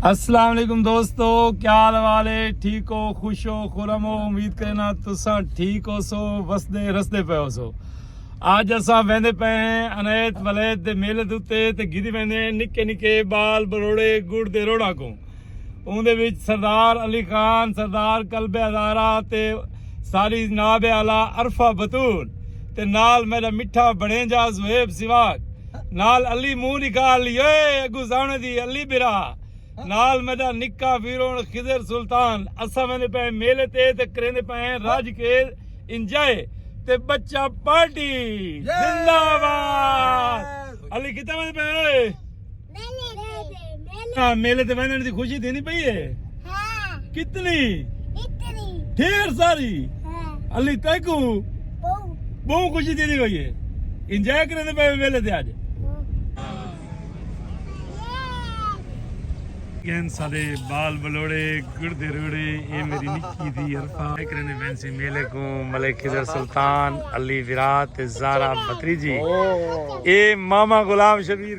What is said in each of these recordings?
السلام علیکم دوستو کیا حال والے ٹھیک ہو خوش ہو خورم ہو امید کرنا تساں ٹھیک ہو سو وسدے رسدے پے ہو سو اج اساں ویندے پے ہیں انیت ولیت دے میلے دوتے تے گھدی ویندے ہیں نکے نکے بال بروڑے گڑ دے روڑا کو اون دے وچ سردار علی خان سردار قلب ہزارہ تے ساری ناب اعلی عرفہ بتول تے نال میرا مٹھا بڑے جا زہیب سواگ نال علی منہ نکال لیو اے اگوں زاونے دی علی برا نال میڈا نکا ویرون خضر سلطان اساں ویندے پئے ہیں میلے تے تے کریندے پئے ہیں رج کے انجوائے تے بچہ پارٹی زندہ باد علی کتھاں ویندے پئے ہیں اوئے میلے تے ویندے میلے تے ویندے دی خوشی تھیندی پئی ہے ہاں کتنی اتنی ڈھیر ساری ہاں علی تیکو بو بہو خوشی تھی ہوئی ہے انجوائے کرے دے پے ویلے تے اج گین سادے بال بلوڑے گڑدے روڑے اے میری نکی دی عرفا کرے نے فینسی میلے کو ملک خضر سلطان علی ویرات زارا بتری جی اے ماما غلام شبیر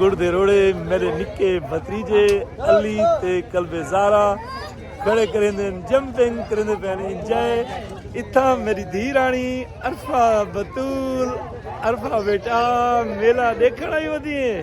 گڑ دے روڑے میرے نکے بھتریجے علی تے قلب زارا کھڑے کریں دے جمپنگ کریں دے پین انجائے اتھا میری دھی رانی عرفہ بطول عرفہ بیٹا میلا دیکھنا ہی ودی ہیں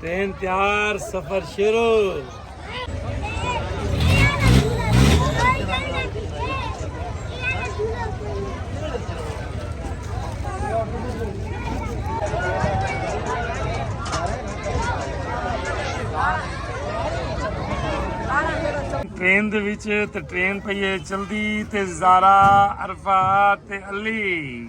تین تیار سفر شروع ٹرین دے وچ تے ٹرین پئی ہے چلدی تے زارا عرفات تے علی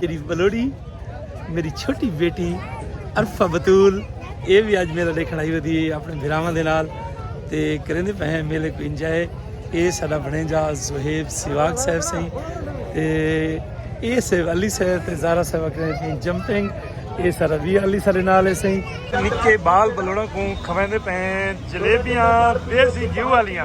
تیری بلوڑی میری چھوٹی بیٹی عرفہ بطول یہ بھی اج میلہ دیکھن آئی ہوئی ہے اپنے بھراواں دے نال تے کریں دے پہن میلے کو انجوائے اے ساڈا بنے جا زہیب سیواگ صاحب سائیں تے اے صاحب علی صاحب تے زارا صاحب کریں دے جمپنگ اے سارا بھی علی سارے نال ہے سائیں نکے بال بلوڑا کو کھویں دے پہن جلیبیاں دیسی گھیو والیاں